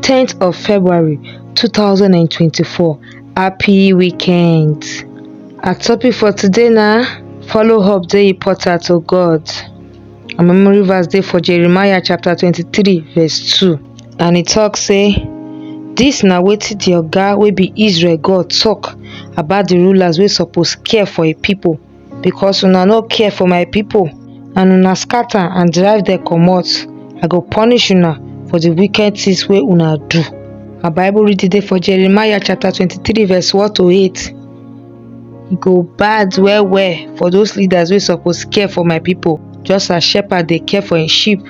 10th of February 2024. Happy weekend. Our topic for today now follow up the portal to God. Our memory verse day for Jeremiah chapter 23, verse 2. And it talks say, This na wetin the oga wey be Israel God talk about the rulers wey suppose care for a people because una no care for my people and una scatter and drive them comot, I go punish una for the wicked things wey una do. Our Bible reading dey for Jeremiah chapter 23 verse 1 to 8. E go bad well well for those leaders wey suppose care for my people just as shepherd dey care for im sheep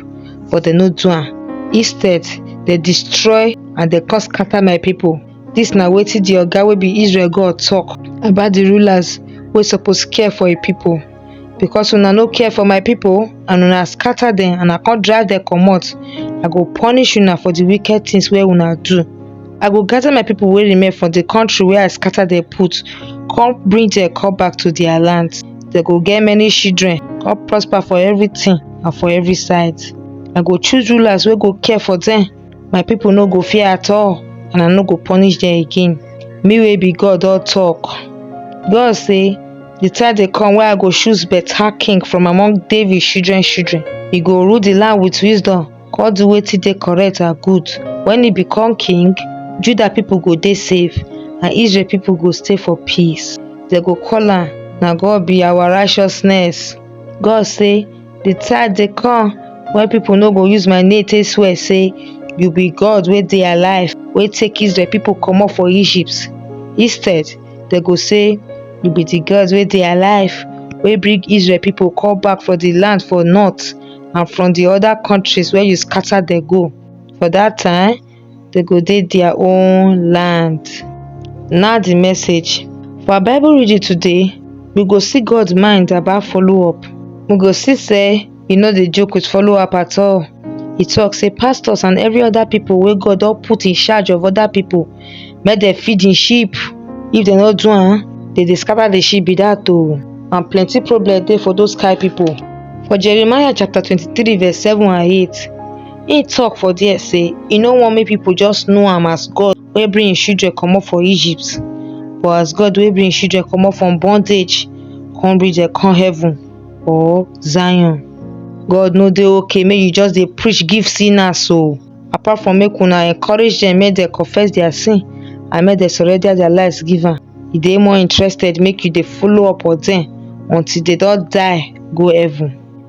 but dem no do am. Instead, dem destroy and dem come scatter my people. Dis na wetin di Oga wey be Israel God talk about di rulers wey suppose care for im people. Because una no care for my people and una scatter dem and I come drive dem comot, I go punish una for di wicked things wey una do. I go gather my people wey remain for di country wey I scatter dem put, come bring dem come back to their land. Dem go get many children, come prosper for everything and for every side. I go choose rulers wey go care for dem. my pipo no go fear at all and i no go punish dem again me wey be god don tok god say di time dey come wey i go choose beta king from among david children children e go rule di land wit wisdom come do wetin dey correct and good wen e become king judah pipo go dey safe and israel pipo go stay for peace dem go call am na god be our righteousness god say di time dey come wey pipo no go use my name take swear say you be god wey dey alive wey take israel pipo comot for egypt instead dem go say you be di god wey dey alive wey bring israel pipo come back from di land for north and from di oda kontris wey you scata dem go for dat time dey go dey dia own land na di message for our bible reading today we go see God mind about follow up we go see sey e no dey joke with follow up at all e talk sey pastors and every other people wey God don put in charge of other people make dem feed him sheep if dem no do am dem dey scatter di sheep be dat oh and plenty problem dey for those kind people for Jeremiah chapter twenty three verse seven and eight Im tok for there say e no want make people just know am as God wey bring im children comot for Egypt but as God wey bring im children comot from bondage come bring dem come heaven or Zion. God no dey okay make you just dey preach give sinners o apart from make una encourage dem make dem confess their sin and make dem surrender their lives give am. E dey more interested make you dey follow up on dem until dey don die go heaven.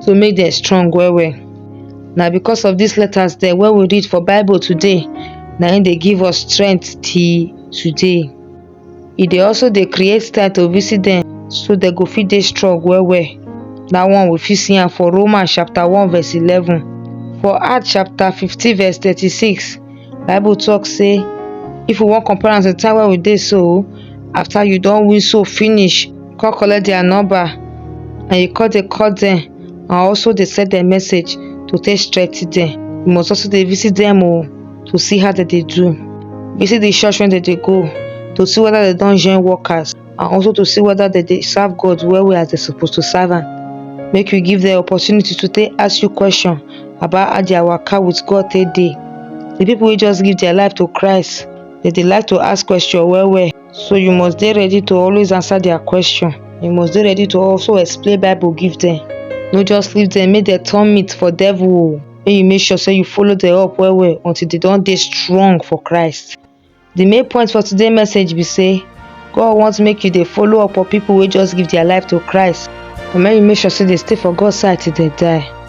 so make dem strong well well na because of these letters dem wey we read for bible today na im dey give us strength till today e dey also dey create time to visit dem so dem go fit dey strong well well that one we fit see am for romans chapter one verse eleven for acts chapter fifteen verse thirty-six bible talk say if we wan compare am to the time wey we dey so after you don win soul finish come collect their number and you come dey call them and also dey send them message to take strengthen them. You must also dey visit them o to see how they dey do. Visit the church wey they dey go to see whether they don join workers and also to see whether they dey serve God well well as they suppose to serve am. Make you give them opportunity to take ask you question about how their waka with God take dey. The people wey just give their life to Christ, they dey like to ask question well well. So you must dey ready to always answer their question. You must dey ready to also explain Bible give them. No just leave them make dem turn meat for devil o. Make you make sure say you follow them up well well until they don dey strong for Christ. The main point for today message be say God want make you dey follow up on people wey just give their life to Christ and make you make sure say they stay for God side till they die.